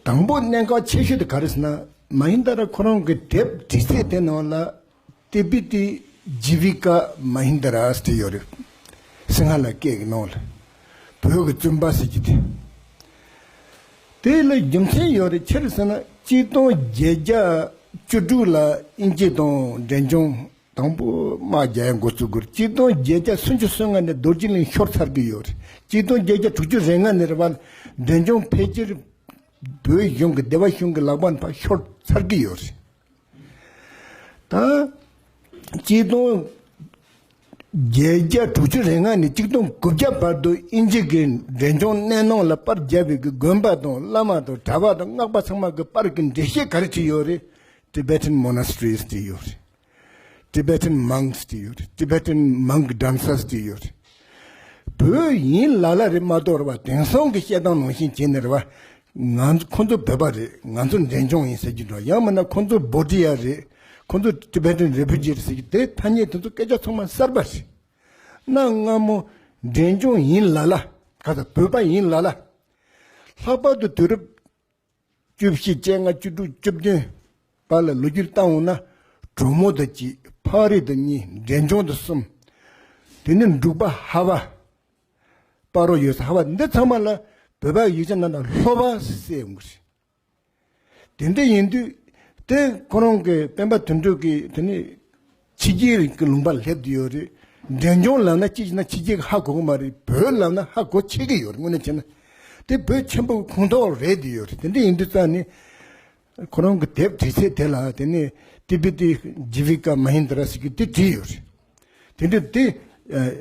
དང་པོ་གནད་འགག་ཆེ་ཤོས་དེ་ག་རེ་ཟེར་ན་མ་ཧིན་དཱ་ར་ཁོ་རང་གི་དེབ་འབྲི་རྩལ་དེ་ནང་ལ་ཏི་བི་ཏི་ཇི་བི་ཀ་མ་ཧིན་དཱ་ར་ཟེར་ཡོད་རེད། སིང་ཧ་ལ་སྐད་ཀྱི་ནང་ལ་བོད་ཀྱི་བཙུན་པ་ཟེར་གྱི་དེ། དེ་ལ་རྒྱུ་མཚན་ཡོད་རེད་ཁྱེར་ཟེར་ན་གཅིག་སྟོང་བརྒྱད་བརྒྱ་བཅུ་དྲུག་ལ་དབྱིན་ཇི་དང་འབྲས་ལྗོངས་དང་པོ། རྨ་རྒྱལ་མགོ་གཙུག་སྒོར་སྐྱིད་སྡོང་བརྒྱད་བརྒྱ་སུམ་ཅུ་སོ་ལྔ་ནས་རྡོ་རྗེ་གླིང་ཤོར་ཚར་གྱི་ཡོད། སྐྱིད་སྡོང་བརྒྱད་བརྒྱ་དྲུག་ཅུ་རེ་ལྔ་ནས་རེ་བར་འབྲས་ལྗོངས་ཕལ་ཆེར་བོད་གཞུང་གི་སྡེ་བ་གཞུང་གི་ལག་པ་ནས་ཤོར་ཚར་གྱི་ཡོད། དང། སྐྱིད་སྡོང་བརྒྱད་བརྒྱ་དྲུག་ཅུ་རེ་ལྔ་ནས་སྐྱིད་སྡོང་དགུ་བརྒྱ་བར་དུ་དབྱིན་ཇི་གིས་འབྲས་ལྗོངས་གནས་ནང་ལ་པར་རྒྱབ་པའི་གི་དགོན་པ་དང་བླ་མ་དང་གྲྭ་པ་དང་སྔགས་པ་ཚང་མ་གི་པར་གི་འགྲེལ་བཤད་ག་རེ་བྲིས་ཡོད་རེད། Tibetan Monasteries ཅེས་ཡོད་རེད། Tibetan Monks ཅེས་ཡོད་རེད། Tibetan Monk Dancers ཅེས་ཡོད་རེད། བོད་ཡིན་ལ་ལ་རེད་མ་གཏོགས་རེད་བ་དེང་སང་གི་བཤད་སྟངས་ནང་བཞིན་བྱས་ནས་རེད་བ། ང་ཚོ་ཁོང་ཚོ་བོད་པ་རེད་ང་ཚོ་འབྲས་ལྗོངས་ཡིན་ཟེར་གྱི་འགྲོ་ཡང་མིན་ན་ཁོང་ཚོ་བོད་དྲི་ཡ་རེད་ཁོང་ཚོ Tibetan Refugee རེད་ཟེར་གྱི་དེ་ཐ་སྙད་དེ་ཚོ་སྐད་ཆ་ཚང་མ་གསར་པ་རེད། གནའ་སྔ་མོ་འབྲས་ལྗོངས་ཡིན་ལ་ལ་ག་ས་བོད་པ་ཡིན་ལ་ལ། ལྷག་པར་དུ་དུས་རབས། བཅུ་བཞི་བཅད་ལྔ་བཅུ་དྲུག་བཅུ་བདུན་པ་ལ་ལོ་རྒྱུས་བཏང་འོང་ན་གྲུ་མོ་དང་གཅིག་ཕག་རི་དང་གཉིས་འབྲས་ལྗོངས་དང་གསུམ། དེ་ནས་འབྲུག་པ་ཧ་བ། དཔའ་རོགས་ཡོད་ས་ཧ་བ་འདི་ཚང་མ་ལ་བོད་པ་ཡིག་ཆ་ནང་དུ་ལྷོ་བ་སེ་ཡོང་གི་རེད། དེ་འདྲ་ཡིན་དུས་དེ་ཁོ་རང་གི་སྤེན་པ་དོན་གྲུབ་ཀྱིས་དེ་ནས་ཕྱི་རྒྱལ་རིགས་ཀྱི་ལུང་པར་སླེབས་ཀྱི་ཡོད་རེད། འབྲས་ལྗོངས་ལབ་ན་ཅིས་ན་ཕྱི་རྒྱལ་གྱི་ཧ་གོ་གི་མ་རེད་བོད་ལབ་ན་ཧ་གོ་ཆེ་གི་ཡོད་རེད་དངོས་གནས་བྱས་ན། དེ་བོད་ཆེན་པོ་གི་ཁུངས་གཏོགས་རེད་ཀྱི་ཡོད་རེད་དེ་འདྲ་ཡིན་དུས་རྩ་ནས། ཁོ་རང་གི་དེབ་བྲིས་ཚད་དེ་ལ་དེ་ནས་ཏི་པི་ཏི་ཇི་བི་ཀ་མ་ཧིན་དི་ར་སི་ཀི་ཏི་བྲིས་ཡོད་རེད། དེ་འདྲ་དེ་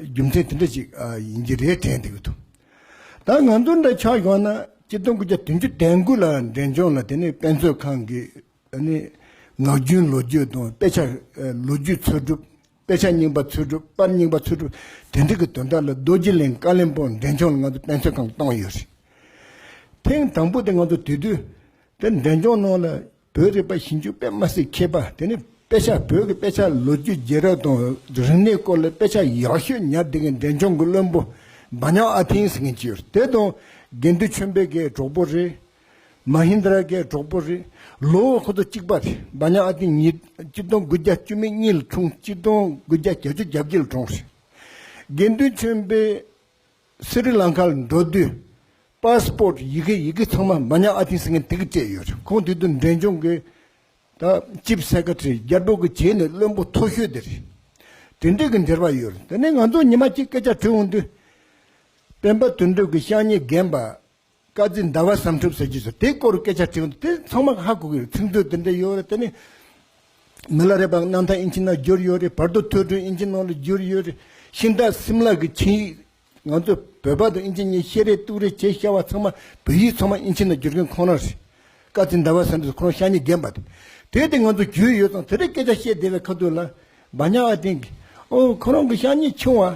རྒྱུ་མཚན་དེ་འདྲ་ཞིག་ཡིན་གྱི་རེད་དྲན་འདུག་གི་འདུག་ད་ང་ཚོ་འདྲ་ཆགས་ཡོང་ན་སྤྱི་སྟོང་དགུ་བརྒྱ་དོན་བཅུ་དན་དགུ་ལ་འབྲས་ལྗོངས་ལ་དེ་ནས་དཔེ་མཛོད་ཁང་གི་ནི། ངག་རྒྱུན་ལོ་རྒྱུས་དང་དཔེ་ཆ། ལོ་རྒྱུས་འཚོལ་སྒྲུབ། དཔེ་ཆ་རྙིང་པ་འཚོལ་སྒྲུབ་པར་རྙིང་པ་འཚོལ་སྒྲུབ་དེ་འབྲེལ་གྱི་དོན་དག་ལ་རྡོ་རྗེ་གླིང་བཀའ་བློན་པོ་འདྲེན་ཆུང་ལ་ང་ཚོས་དཔེ་འཚོལ་ཁང་བཏང་ཡོད་རེད། ཐེངས་དང་པོ་དེ་ང་ཚོ་དེ་དུས་དེར་འདྲེན་ཆུང་ནང་ལ་བོད་རིག་པ་ཞིབ་འཇུག་པད་མ་སེར་མཁས་པ་དེ་ནི་དཔེ་ཆ་བོད་ཀྱི་དཔེ་ཆ་ལོ་རྒྱུས་རྗེས་རབས་དང་རིག་གནས་སྐོར་ལ་དཔེ་ཆ་ཡག་ཤོས་ཉར་བསྡད་མཁན་འདྲེན་ཆུང་གི་བློན་པོ་འབའ་ཉག་ཨ་ཐིང་ཟེར་མཁན་གཅིག་ཡོད་རེད་དེ་དང་དགེ་འདུན་ཆོས་འཕེལ་གྱི་གྲོགས་པོ་རེད། མ་ཧིན་དྷ་ར་གའི་གྲོགས་པོ་རེད། ལོ་ཁོ་ཚོ་གཅིག་པ་རེད། འབའ་ཉག་ཨ་ཏི་ཉིས་སྟོང་དགུ་བརྒྱ་བཅུ་མེད་གཉིས་ལ་འཁྲུངས་སྟོང་དགུ་བརྒྱ་གྱ་བཅུ་གྱ་བརྒྱད་ལ་གྲོངས་རེད། དགེ་འདུན་ཆོན་པས་སི་རི་ལང་ཁ་ལ་འགྲོ་དུས Passport ཡི་གེ་ཡི་གེ་ཚང་མ་འབའ་ཉག་ཨ་ཏི་སི་ངན་ཐི་གིས་སྤྲད་ཡོད་རེད་ཁོང་དེ་དུས་འབྲས་ལྗོངས་ཀྱི་ད Chief Secretary རྒྱ་འབྲོག་གི་བྱས་ནས་བློན་པོ་མཐོ་ཤོས་དེ་རེད། དེ་འདྲས་ཀྱི་འབྲེལ་བ་ཡོད་རེད་དེ་ནས་ང་ཚོ་ཉི་མ་གཅིག་སྐད་ཆ་དྲིས་འོང་དུས། སྤེན་པ་དུད་འགྲོ་གི་ཤག་ཉེས་རྒན་པ་བཀའ་གཙིགས་ཟླ་བ་བསམ་འཕྲུལ་ཟེར་རྒྱུ་ཞིག་དེའི་སྐོར་སྐད་ཆ་དྲིས་འོང་དུས་དེ་ཚང་མ་ཧ་གོ་གི་རེད་ཚིག་མཛོད་དེ་འདྲ་ཡོད་རེད་དེ་ནས་མི་ལ་རེ་བ་གནང་ཐང་ཨིན་ཇི་ནང་བསྒྱུར་ཡོད་རེད་བར་དུ་ཐོས་གྲོལ་ཨིན་ཇི་ནང་ལ་བསྒྱུར་ཡོད་རེད་ཤིང་རྟ་སིམ་ལ་གི་ཆིངས་ཡིག་ང་ཚོས་བོད་པ་དང་ཨིན་ཇི་གཉིས་བཤད་རེས་གཏུག་རེས་བྱས་ཤར་བ་ཚང་མ་བོད་ཡིག་ཚང་མ་ཨིན་ཇི་ནང་བསྒྱུར་མཁན་ཁོང་རང་རེད་བཀའ་གཙིགས་ཟླ་བ་བསམ་འཕྲུལ་ཁོང་རང་ཤ་ཉེ་རྒན་པ་རེད་དེ་དེ་ང་ཚོ་བརྒྱུད་ཡོད་ཙང་དེ་འདྲའི་སྐད་ཆ་བཤད་བསྡད་པའི་ཁ་ཐུག་ལ་བ་ཉག་བ་དེང་གི་ཨོ་ཁོང་རང་གི་ཤ་ཉེ་ཆུང་བ་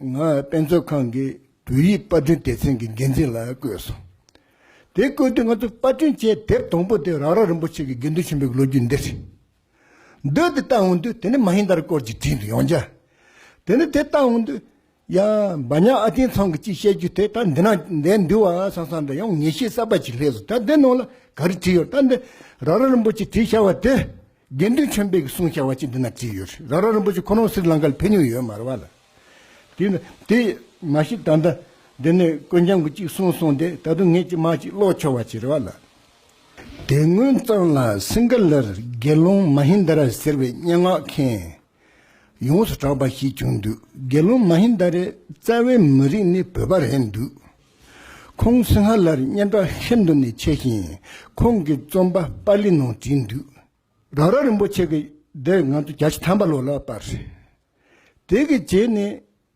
ང་དཔེ་མཛོད་ཁང་གི་བོད་ཡིག་དཔར་སྐྲུན་སྡེ་ཚན་གྱི་འགན་འཛིན་ལ་བསྐོས་སོང། དེ་བསྐོས་དུས་ང་ཚོས་དཔར་སྐྲུན་བྱས་དེབ་དང་པོ་དེ་རག་རག་རིན་པོ་ཆེ་གི་དགེ་འདུན་ཆེན་པོའི་ལོ་རྒྱུས་འདིར་རེད་འདོད་དེ་བལྟ་འོང་དུས་དེ་ནི་མ་ཧིན་དར་སྐོར་གྱི་བྲིས་འདུག་ཡང་བསྐྱར་དེ་ནི་དེ་བལྟ་འོང་དུས། ཡང་འབའ་ཉག་ཨ་ཏིའི་ཚང་གི་ཅིག་བཤད་རྒྱུ་དེ་ད་འདི་ན་འདས་འདུག་བ་སང་སང་འདྲ་ཡང་ངེས་ཤེས་གསར་པ་ཞིག་སླེབས་སོང་ད་འདི་ནང་ལ་ག་རེ་བྲིས་ཡོད་ད་འདི་རག་རག་རིན་པོ་ཆེ་བྲིས་ཤར་བ་དེ། དགེ་འདུན་ཆེན་པོས་གསུང་བྱ་བ་ཅི་འདི་ན་བྲིས་ཡོད་རེད་རྭ་རྭ་རིན་པོ་ཆེ་ཁོ་རང་སིར་ལངྐ་ལ་ཕེབས་མྱོང་ཡོད་མ་རེད་བ་ལ། དེ་ནི་དེ་མ་གཞི་ད་ལྟ་འདི་ནས་དཀོན་རྒྱང་གི་ཅིག་གསུངས་སོང་དེ་ད་དུང་ངས་ཅི་མ་ཅིག་ཀློག་ཆོག་བ་ཅི་རེད་བ་ལ། དེ་སྔོན་ཙང་ལ་སིངྒ་ལར་དགེ་སློང་མ་ཧིན་དཱ་ར་ཟེར་བའི་སྙན་ངག་མཁན། ཡོངས་སུ་གྲགས་པ་ཞིག་བྱུང་འདུག་དགེ་སློང་མ་ཧིན་དཱ་རའི་རྩ་བའི་མི་རིགས་ནི་བོད་པ་རེད་འདུག་ཁོང་སིང་ཧ་ལར་སྙན་གྲགས་ཤིན་ཏུ་ནས་ཆེ་ཞིང་ཁོང་གི་རྩོམ་པ་པཱ་ལི་ནང་བྲིས་འདུག། རང་རང་རིན་པོ་ཆེ་གི་སྡེར་ང་ཚོ་བརྒྱ་ཆ་ཐམ་པ་ལོག་ལ་བར། དེ་གི་རྗེས་ནས་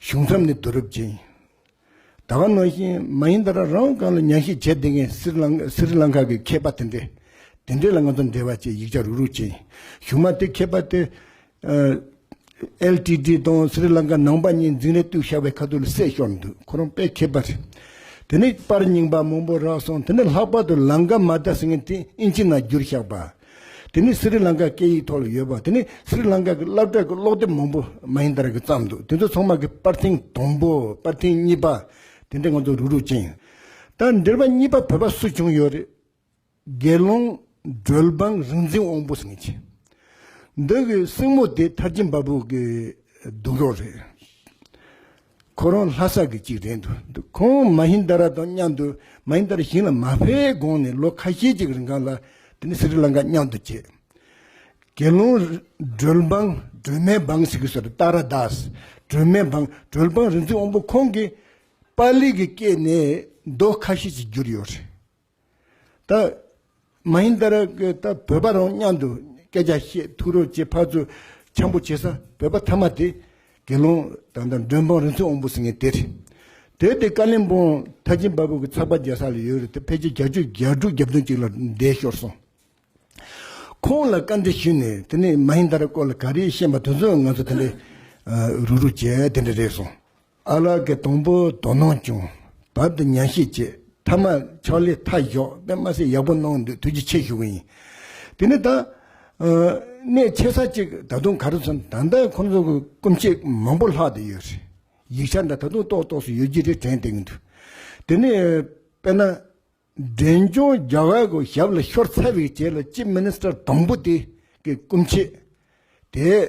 གཞུང་མཚམས་ནི་བསྡུ་རུབ་ཅན་ཡིན། ད་བར་ནང་བཞིན་མ་ཡིན་ད་ར་རང་དབང་གང་ལ་ཉན་ཤེས་བྱེད་བདེ་མཁན་སི་རི་ལང་ཁ་གི་མཁས་པ་དེ་འདྲས། དེ་འདྲས་ལ་ང་ཚོ་འབྲེལ་བ་བཅས་ཡིག་ཆ་རུག་རུག་ཅན་ཡིན། གཞུང་མ་དེ་མཁས་པ་དེ་ཨེལ་ཏི་ཏི་དང་སི་རི་ལང་ཁ་ནང་པ་གཉིས་འཛིང་རེ་བཏུགས་ཤ་བའི་ཁ་ཐུག་ལ་བསྲེས་ཤོར་འདུག་ཁོ་རང་དཔེ་མཁས་པ་རེད། དེ་ནས་པར་རྙིང་པ་མང་པོ་རག་སོང་དེ་ནས་ལྷག་པར་དུ་ལང་ཀ་མ་རྡ་སི་ངན་དེ་ཨིན་ཅི་ན་བསྒྱུར་བཞག་པ། དེ་ནི་སི་རི་ལང་ཀ་སྐད་ཡིག་ཐོག་ལ་ཡོད་པ་དེ་ནི་སི་རི་ལང་ཀ་གི་བསླབ་གྲྭ་གི་ཀློག་དེབ་མང་པོ་མ་ཡིན་དར་གི་བརྩམས་འདུག་དེ་ཚོ་ཚང་མ་གི་པར་ཐེངས་དང་པོ་པར་ཐེངས་གཉིས་པ་དེ་འདྲ་ང་ཚོ་རུག་རུག་ཅིང། དང་འབྲེལ་པ་གཉིས་པ་བོད་པ་སུ་བྱུང་ཡོད་རེད། དགེ་སློང་སྒྲོལ་འབངས་རིག་འཛིན་དབང་པོ་སེང་ཆེན། འདི་གི་སྲིང་མོ་དེ་མཐར་ཕྱིན་འབའ་བུ་གི་གདུང་རོགས་རེད། ཁོ་རང་ལྷ་ས་གི་གཅིག་རེད་འདུག་འདུག་ཁོང་མ་ཧིན་དཱ་ར་དང་མཉམ་དུ་མ་ཧིན་དཱ་ར་ཞིང་ལ་མ་ཕེབས་གོང་ནས་ལོ་ཁ་ཤས་ཅིག་རིང་གང་ལ་དེ་ནི་སི་རི་ལང་ཀ་མཉམ་དུ་བྱས། དགེ་སློང་སྒྲོལ་འབངས་སྒྲོལ་མའི་འབངས་ཞིག་གི་སོ་རེད་ཏཱ་ར་དཱས་སྒྲོལ་མའི་འབངས་སྒྲོལ་འབངས་རིག་འཛིན་དབང་པོ་ཁོང་གིས་པཱ་ལི་གི་སྐད་ནས་མདོ་ཁ་ཤས་ཅིག་བསྒྱུར་ཡོད་རེད། ད། མ་ཡིན་ད་རེ་ད་བོད་པ་རང་མཉམ་དུ་སྐད་ཆ་བཤད་ཐུག་རོགས་བྱེད་ཕར་ཚུར་འཆམ་པོ་བྱེད་ས་བོད་པ་ཐ་མ་དེ། དགེ་སློང་དང་དང་མགྲོན་འབངས་རིན་ཚོད་འོང་པོ་ཟེར་ངེས་དེ་རེད། དེར་བརྟེན་ཀ་ལིམ་པོང་ཐ་ཆེན་པ་པོ་གི་ཚགས་པ་རྒྱ་ས་ལ་ཡོད་རེད་དེ་ཕལ་ཆེར་གྱ་བཅུ་གྱ་དྲུག་གྱ་བདུན་ཅིག་ལ་འདས་ཤོར་སོང། ཁོང་ལ་བཀའ་འདྲི་ཞུས་ནས་དེ་ནས་མ་ཡིན་ད་རེ་སྐོར་ལ་ག་རེ་ཤེས་མ་ཐུག་ཚོད་ང་ཚོ་དེ་འདྲའི་རུག་རུག་བྱས་དེ་འདྲ་རེད་སོང། ཨ་ལགས་ཀྱི་དང་པོ་དོ་སྣང་ཅུང་བབ་འདུག་ཉན་ཤེས་བྱེད་མཐའ་མ་ཕྱག་ལས་མཐའ་བཞོག་པས་མ་ཟད་ཡག་པོ་གནང་འདུག་ཐུགས་རྗེ་ཆེ་ཞུ་གི་ཡིན་དེ་ནས་ད། གནད་ཆེ་ས་གཅིག་ད་དུང་ག་རེ་སོང་ད་ལྟ་ཁོང་ཚོ་གི་སྐུ་མཆེད་མང་པོ་ལྷག་ཏུ་ཡོད་རེད་ཡིག་ཆ་འདྲ་ད་དུང་ཏོག་ཏོག་སུ་ཡོད་རྒྱུ་རེ་དྲན་བསྡད་ཀྱི་འདུག་དེ་ནས་དཔེར་ན། འབྲས་ལྗོངས་རྒྱ་བལ་གྱི་ཞབས་ལ་ཤོར་ཚར་བའི་རྗེས་ལ་ཅིབ་མིནིས་ཏར་དང་པོ་དེ་གི་སྐུ་མཆེད་དེ།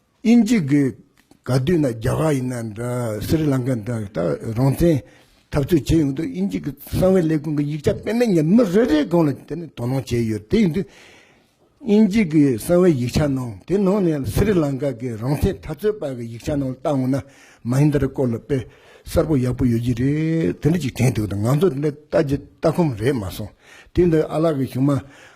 དབྱིན་ཇི་གི་ག་དུས་ན་རྒྱ་གར་ཡིན་ན་འདྲ་སི་རི་ལང་ཀ་འདྲ་ད་རང་བཙན་འཐབ་རྩོད་བྱས་ཡོང་དུས་དབྱིན་ཇི་གི་གསང་བའི་ལས་ཁུངས་ཀྱི་ཡིག་ཆ་སྤེལ་མེད་ངས་མི་རེ་རེའི་སྒང་ལ་དེ་ནི་དོ་སྣང་བྱས་ཡོད་དེ་ཡིན་དུས་དབྱིན་ཇི་གི་གསང་བའི་ཡིག་ཆ་ནང་དེ་ནང་ནས་སི་རི་ལང་ཀ་གི་རང་བཙན་འཐབ་རྩོད་པ་གི་ཡིག་ཆ་ནང་བལྟ་འོང་ན་མ་ཡིན་འདྲ་རེ་སྐོར་ལ་དཔེ་གསར་པོ་ཡག་པོ་ཡོད་རྒྱུ་རེད་དེ་འདྲ་ཅིག་དྲན་འདུག་ད་ང་ཚོ་དེ་འདྲ་ལྟ་རྒྱུ་ལྟ་ཁོམ་རེད་མ་སོང་དུས་འདིར་ཨ་ལགས་ཀྱི་གཞུང་མ